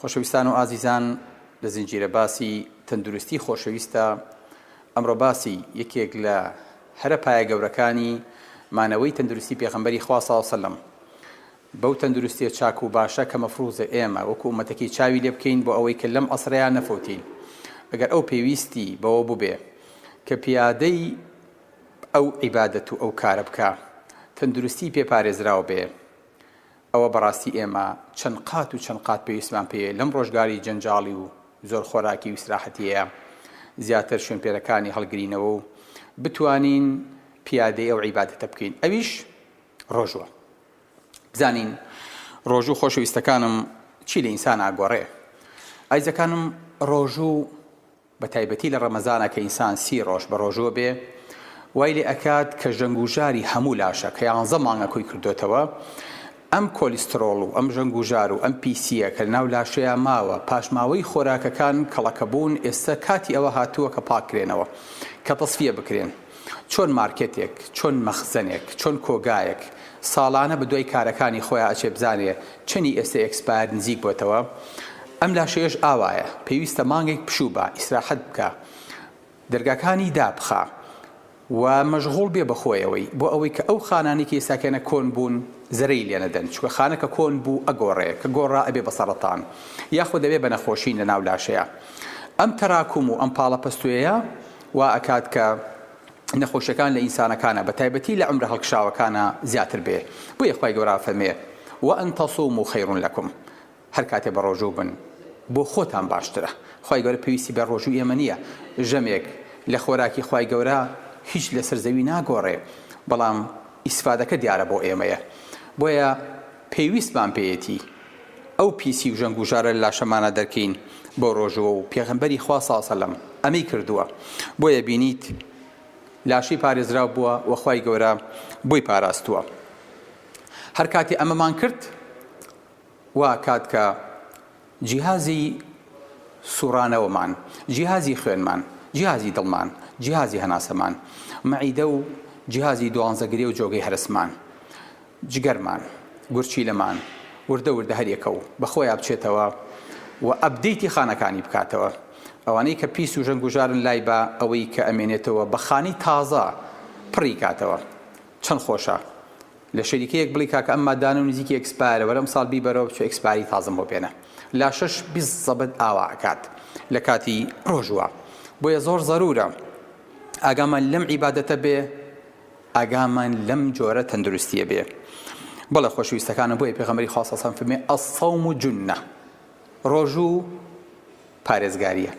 خۆشەویستان و ئازیزان لە زنجیرە باسی تەندروستی خۆشەویستە ئەمڕۆ باسی یەکێک لە هەرە پایە گەورەکانی مانەوەی تەندروستی پێغەمبەری خوا صلی الله علیه و سلم بەو تەندروستیە چاک و باشە کە مەفروزە ئێمە وەکو ئومەتەکەی چاوی لێ بکەین بۆ ئەوەی کە لەم ئەسرەیان نەفەوتین ئەگەر ئەو پێویستی بەوە بوبێ کە پیادەی ئەو عیبادەت و ئەو کارە بکا تەندروستی پێ پارێزراو بێ ئەوە بەڕاستی ئێمە چەند قات و چەند قات پێویستمان پێیە لەم ڕۆژگاری جەنجاڵی و زۆر خۆراکی و ئیسراحەتیەیا زیاتر شوێنپێرەکانی هەڵگرینەوە و بتوانین پیادەی ئەو عیبادەتە بکەین ئەویش ڕۆژوە بزانین ڕۆژوو خۆشەویستەکانم چی لە ئینسان ئاگۆڕێ ئایزەکانم ڕۆژوو بە تایبەتی لە ڕەمەزانا کە ئینسان سی ڕۆژ بە ڕۆژووە بێ وای لێ ئەکات کە ژەنگوژاری هەموو لاشە کە یانزە مانگە کۆی کردۆتەوە ئەم کۆلیسترۆڵ و ئەم ژەنگوژار و ئەم پیسییە کە لەناو لاشەیا ماوە پاشماوەی خۆراکەکان کەڵەکەبوون ئێستا کاتی ئەوە هاتووە کە پاککرێنەوە کە تەسفیە بکرێن. چۆن مارکێتێک، چۆن مەخزەنێک، چۆن کۆگایەک ساڵانە بە دوای کارەکانی خۆیا ئەچێ بزانێ چەنی ئێستە ئێکسپایەر نزیک بۆتەوە، ئەم لاشەیەش ئاوایە پێویستە مانگێک پشوو با، ئیسراحەت بکا، دەرگاکانی دابخا و مەژغوڵ بێ بە خۆیەوەی بۆ ئەوەی کە ئەو خانانەی کە ئێستا کەنە کۆن بوون زەرەی لێ نەدەن، چونکە خانە کە کۆن بوو ئەگۆڕێ، کە گۆڕا ئەبێ بە سەڕەتان یاخود ئەبێ بە نەخۆشین لە ناو لاشەیا. ئەم تەراکوم و ئەم پاڵەپەستۆیە وا ئەکات کە نەخۆشیەکان لە ئینسانەکانا بە تایبەتی لە عەمرە هەڵکشاوەکانا زیاتر بێ بۆیە خوای گەورە ئەفەرمێ وان تصوموا خیر لکم هەر کاتێ بە ڕۆژوو بن بۆ خۆتان باشترە خوای گەورە پێویستی بە ڕۆژووی ئێمە نییە ژەمێک لە خۆراکی خوای گەورە هیچ لەسەر زەوی ناگۆڕێ بەڵام ئیسفادەکە دیارە بۆ ئێمەیە بۆیە پێویستمان پێیەتی ئەو پیسی و ژەنگ و ژارە لە لاشەمانا دەرکەین بۆ ڕۆژووە و پێغەمبەری خوا صلی سلم ئەمەی کردووە بۆیە بینیت لاشەی پارێزراو بووە و خوای گەورە بۆی پاراستووە هەر کاتی ئەمەمان کرد وا کات کە جیهازی سوڕانەوەمان، جیهازی خوێنمان، جیهازی دڵمان، جیهازی هەناسەمان، مەعیدە و جیهازی دوانزە گرێ و جۆگەی هەرسمان، جگەرمان، گورچیلەمان، وردە وردە هەر یەکە و بە خۆیا بچێتەوە و ئەپدەیتی خانەکانی بکاتەوە. ئەوانەی کە پیس و ژەنگوژارن لای با ئەوەی کە ئەمێنێتەوە بە خانی تازە پڕی کاتەوە. چەند خۆشە. لە شەریکەیەک بڵی کاکە ئەم مادانە و نزیکی ئێکسپایەرە وەرە ئەمساڵ بیبەرەوە بچۆ ئێکسپایەری تازەم بۆ بێنە لاشەش بیست زەبت ئاوا ئەکات لە کاتی ڕۆژوە بۆیە زۆر زەرورە ئاگامان لەم عیبادەتە بێ ئاگامان لەم جۆرە تەندروستیە بێ بەڵە خۆشویستەکانە بۆیە پێغەمەری خاصەسان فمێ ئەسەوم و جنە ڕۆژوو پارێزگارییە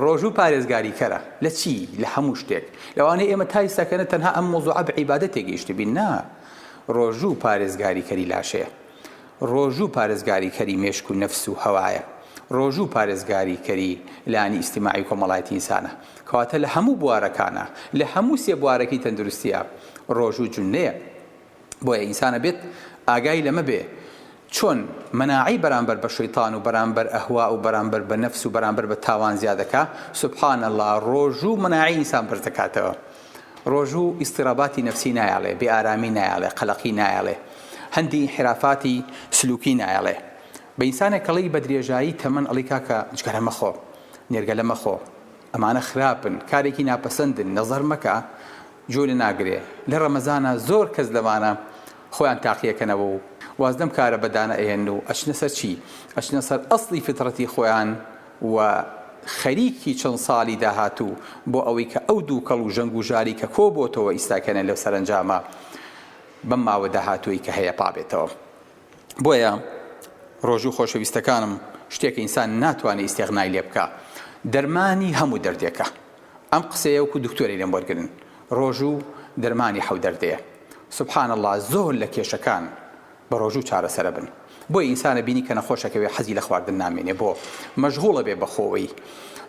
ڕۆژوو پارێزگاریکەرە لە چی؟ لە هەموو شتێک لەوانەیە ئێمە تا ئیستا کەنە تەنها ئەم مۆزوعە بە عیبادە تێگەیشتبین نا ڕۆژوو پارێزگاریکەری لاشەیە ڕۆژوو پارێزگاریکەری مێشک و نەفس و هەوایە ڕۆژوو پارێزگاریکەری لانی ئیسیماعی کۆمەڵایەتی ئینسانە کەواتە لە هەموو بوارەکانە لە هەموو سێ بوارەکەی تەندروستیە ڕۆژوو جونەیە بۆیە ئینسان ئەبێت ئاگای لەمە بێ چۆن مەناعەی بەرامبەر بە شەیتان و بەرامبەر ئەهوا و بەرامبەر بە نەفس و بەرامبەر بە تاوان زیادەکا سبحان اللە ڕۆژوو مەناعی ئینسان بەرز دەکاتەوە ڕۆژوو ئیستیراباتی نەفسی نایاڵێ بێ ئارامی نایاڵێ قەلەقی نایاڵێ هەندی حرافاتی سلوکی نایاڵێ بە ئینسانێک کەڵی بە درێژایی تەمەن ئەڵی کاکە جگەرە مەخۆ نێرگەلە مەخۆ ئەمانە خراپن کارێکی ناپەسەندن نەزەر مەکە گوێ لە ناگرێ لە ڕەمەزانا زۆر کەس لەوانە خۆیان تاقیەکەنەوە و واز لەم کارە بەدانە ئەهێنن و ئەچنە سەر چی؟ ئەچنە سەر ئەسڵی فیتڕەتی خۆیان و خەریکی چەند ساڵی داهاتوو بۆ ئەوەی کە ئەو دووکەڵ و ژەنگ و ژاری کە کۆ بۆتەوە ئیستاکەنە لەو سەرەنجامە بەم ماوە داهاتووەی کە هەیە پابێتەوە بۆیە ڕۆژوو خۆشەویستەکانم شتێکە ئینسان ناتوانێ ئیستێغنای لێ بکا دەرمانی هەموو دەردێکە. ئەم قسەیە وەکو دکتۆرێ لێم وەرگرن ڕۆژوو دەرمانی حەو دەردەیە سبحان اللە زۆر لە کێشەکان بە ڕۆژوو چارەسەرەبن بۆیە ئینسانە بینی کە نەخۆشەکەوێ حەزی لە خواردن نامێنێ بۆ مەژغوڵە بێ بەخۆوەی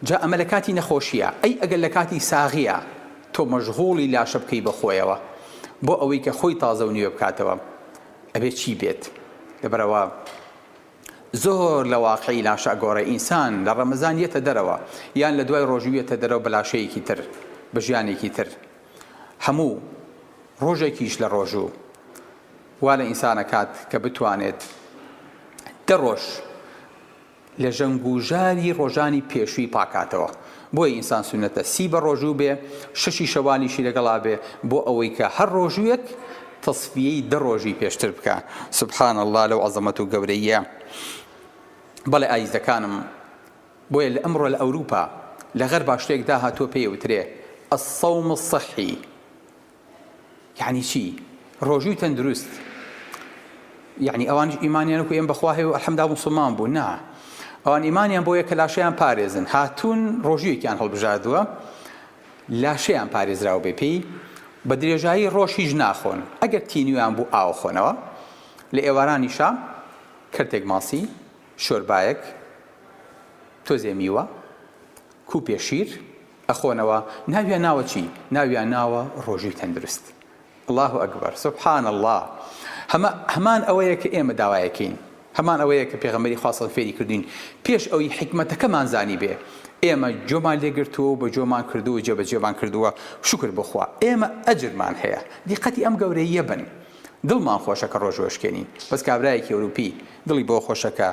جا ئەمە لە کاتی نەخۆشیە ئەی ئەگەر لە کاتی ساغیە تۆ مەژغوڵی لاشە بکەی بەخۆیەوە بۆ ئەوەی کە خۆی تازە و نوێ بکاتەوە ئەبێ چی بێت لەبەرەوە زۆر لە واقعی لاشە ئەگۆڕێ ئینسان لە ڕەمەزان یەتە دەرەوە یان لە دوای ڕۆژوو یەتە دەرەوە بە لاشەیەکی تر بە ژیانێکی تر هەموو ڕۆژێکیش لە ڕۆژوو وا لە ئینسان ئەکات کە بتوانێت دە ڕۆژ لە ژەنگ و ژاری ڕۆژانی پێشووی پاکاتەوە بۆیە ئینسان سوننەتە سی بەڕۆژوو بێ، شەشی شەوالیشی لەگەڵا بێ، بۆ ئەوەی کە هەر ڕۆژوویەک تەسفیەی دە ڕۆژی پێشتر بکا. سبحان اللە لەو عەزەمەت و گەورەییە. بەڵێ ئایزەکانم، بۆیە لە ئەمڕۆ لە ئەوروپا، لە غەربا شتێک داهاتووە پێی ئەوترێ، الصوم الصحی، یەعنی چی ڕۆژووی تەندروست یەعنی ئەوانش ئیمانیان وەکو ئێمە بەخوا هەیە و ئەلحەمدا موسڵمان بوو نا ئەوان ئیمانیان بۆیە کە لاشەیان پارێزن هاتوون ڕۆژوویەکیان هەڵبژاردووە لاشەیان پارێزراو بێ پێی بە درێژایی ڕۆژ هیچ ناخۆن ئەگەر تینویان بوو ئاو خۆنەوە لە ئێوارانی شا کەرتێک ماسی شۆربایەک تۆزێ میوە کوپێ شیر ئەخۆنەوە ناویان ناوە چی؟ ناویان ناوە ڕۆژی تەندروست اللە اکبر سبحان اللە هەمە هەمان ئەوەیە کە ئێمە داوایەکەین هەمان ئەوەیە کە پێغەمبەری خوا سەڵ فێری کردوین پێش ئەوی حیکمەتەکەمان زانیبێ ئێمە جۆمان لێگرتووە و بە جۆمان کردووە جێبەجێمان کردووە شکر بخوا ئێمە ئەجرمان هەیە دیقەتی ئەم گەورەییە بن دڵمان خۆشە کە ڕۆژ وەشکێنین بەس کابرایەکی ئەوروپی دڵی بۆ خۆشە کە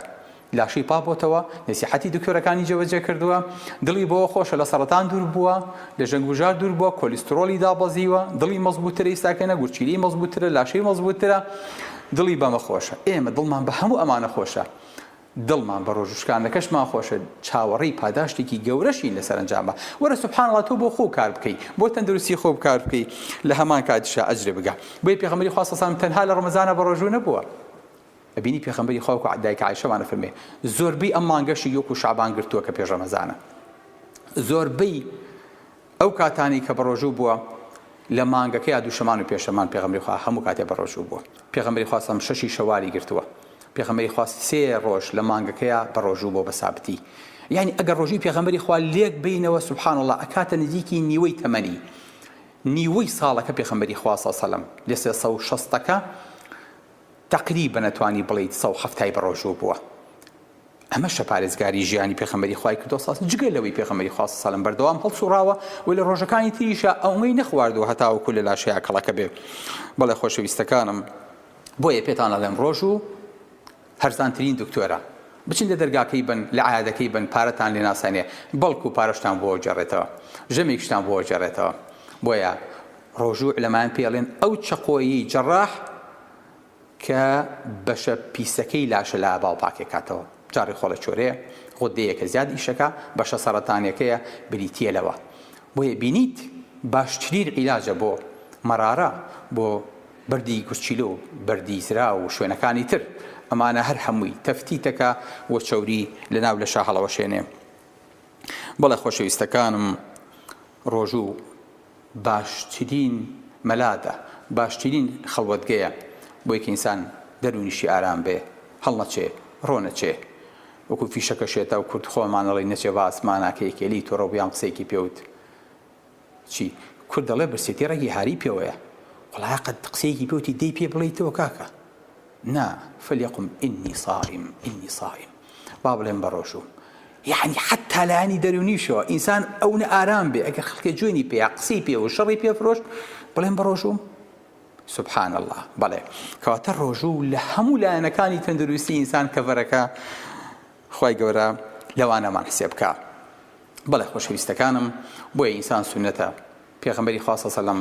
لاشەی پاک بۆتەوە، نەسیحەتی دکتۆرەکانی جێبەجێ کردووە، دڵی بەوە خۆشە لە سەڕەتان دوور بووە، لە ژەنگ و ژار دوور بووە، کۆلیسترۆڵی دابەزیوە، دڵی مەزبووترە ئیستا کەنە گورچیلەی مەزبووترە، لاشەی مەزبووترە، دڵی بەمە خۆشە. ئێمە دڵمان بە هەموو ئەمانە خۆشە. دڵمان بە ڕۆژ و شکاندنەکەشمان خۆشە، چاوەڕێی پاداشتێکی گەورەشین لە سەرەنجامە. وەرە سبحان اللە تۆ بۆ خۆو کار بکەی، بۆ تەندروستی خۆو کار بکەی، لە هەمان کاتیشا ئەجرێ بگە. بۆیە پێغەمبەری خوا صلی اللە علیە وسلم تەنها لە ڕەمەزانا بەڕۆژوو نەبووە. ئەبینی پێخەمبەری خوا وەکو دایک عایشەمان ئەفەرموێ زۆربەی ئەم مانگەشی یۆکو شەعبان گرتووە کە پێش ڕەمەزانە زۆربەی ئەو کاتانی کە بەڕۆژوو بووە لە مانگەکە یا دووشەمان و پێشەمان پێغەمبەری خوا هەموو کاتێ بەڕۆژوو بووە پێغەمبەری خوا سەم شەشی شەوالی گرتووە پێغەمبەری خوا سێ ڕۆژ لە مانگەکەیە بەڕۆژوو بۆ بەسابتی یعنی ئەگەر ڕۆژووی پێغەمبەری خوا لێک بینەوە سبحان الله ئەکاتە نزیکی نیوەی تەمەنی نیوەی ساڵەکە پێغەمبەری خوا صلی الله علیه و سلم لە 360ەکە تەقریبەن ئەتوانی بڵێیت سەو حەفتای بەڕۆژوو بووە ئەمەشە پارێزگاری ژیانی پێخەمەری خوای کردۆ ساس جگە لەوەی پێخەمەری خواست سالم بەردەوام هەڵسوڕاوە و لە ڕۆژەکانی تریشە ئەومەی نەخواردوە هەتاوەکو لە لاشەیا کەڵەکە بێ بەڵێ خۆشەویستەکانم بۆیە پێتان ئەڵێم ڕۆژوو هەرزانترین دکتۆرە بچن لە دەرگاکەی بن لە عادەکەی بن پارەتان لێ ناسەنێ بەڵکو پارەشتان بۆ جێڕێتەوە ژەمێکشتان بۆ جێڕێتەوە بۆیە ڕۆژوو عولەمایان پێ ئەڵێن ئەو چەقۆیەی جەڕاح کە بەشە پیسەکەی لاشە لە ئاوا پاکەکاتەوە جا ڕیخۆڵە چۆرەیە غودەیەکە زیاد ئیشەکا بەشە سەڕەتانیەکەیە بریتیە لەوە بۆیە بینیت باشترین عیلاجە بۆ مەرارە بۆ بەردی گورچیلە و بەردی زرا و شوێنەکانی تر ئەمانە هەر هەمووی تەفتیتەکە و چەوری لەناو لە شاهەڵەوەشێنێ بەڵێ خۆشەویستەکانم ڕۆژوو باشترین مەلادە باشترین خەڵوەتگەیە بۆی کە ئینسان دەرونیشی ئارام بێ هەڵنەچێ ڕۆ نەچێ وەکو فیشەکە شێتا و کورد خۆمان ئەڵێی نەچێ بە ئاسمانا کە یەکێ لێی تۆرە بویان قسەیەکی پێ وت چی کورد دەڵێ برسێتی ڕەگی هاری پێوەیە وەڵا قەت قسەیەکی پێ وتی دەی پێ بڵێیتەوە کاکە. نا فلیقم انی صائم انی صائم با بڵێم بە ڕۆژووم یعنی حتا لایەنی دەرونیشەوە ئینسان ئەو نە ئارام بێ ئەگەر خەڵکە جوێنی پێ قسەی پێ و شەڕی پێ فرۆشت بڵێم بە ڕۆژووم سبحان الله بەڵێ کەواتە ڕۆژوو لە هەموو لایەنەکانی تەندروستی ئینسان کەڤەرەکە خی گەورە لەوانەمان حسێ بکە بەڵێ خۆشەویستەکانم بۆیە ئینسان سونەتە پێغمبەری خواستە سەلم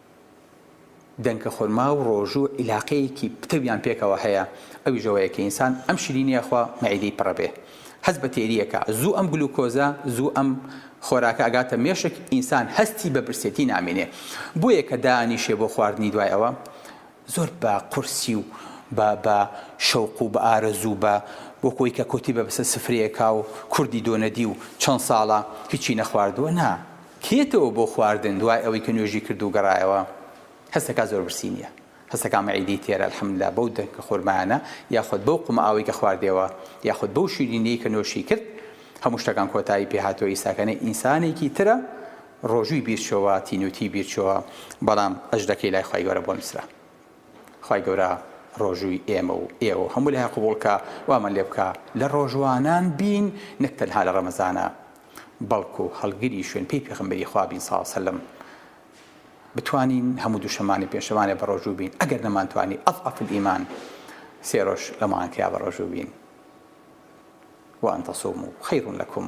دەنکە خورما و ڕۆژو عیلاقەیەکی پتەویان پێکەوە هەیە ئەویش ئەوەیە کە ئینسان ئەم شیرینی ئەخوا مەعیدەی پڕ ئەبێ هەست بە تێری ئەکا زوو ئەم گلوکۆزە زوو ئەم خۆراکە ئەگاتە مێشک ئینسان هەستی بە برسێتی نامینێ بۆیە کە دانیشێ بۆ خواردنی دوای ئەوە زۆر بە قورسی و بە بە شەوق و بە ئارەزوو و بە وەکو ئەوی کە کۆتی بە بەسە سفرەیەکا و کوردی دۆ نەدی و چەند ساڵە هیچی نەخواردووە نا کێتەوە بۆ خواردن دوای ئەوەی کە نوێژی کرد و گەڕایەوە هەست دەکا زۆر برسی نییە هەست دەکا مەعیدەی تێرە الحمدللە بەو دەنکە خورمایانە یاخود بەو قومە ئاوەی کە خواردیەوە یاخود بەو شیرینیەی کە نۆشی کرد هەموو شتەکان کۆتایی پێ هاتووە ئیساکە نە ئینسانێکی ترە ڕۆژووی بیر چۆوە تینوتی بیر چۆوە بەڵام ئەژدەکەی لای خوای گەورە بۆ نوسرا خوای گەورە ڕۆژووی ئێمە و ئێوە و هەموو لایان قبوڵ کا وامان لێ بکا لە ڕۆژوانان بین نەک تەنها لە ڕەمەزانا بەڵکو هەڵگری شوێن پێی پێغەمبەری خوا بین ساڵ سەلم بتوانین هەموو دوشەمانێ پێشەمانێ بە ڕۆژوو بین ئەگەر نەمانتوانی ئەف ئەفل ئیمان سێ ڕۆژ لەمانکرا بە ڕۆژوو بین وان تەسوم و خەیڕون لەکم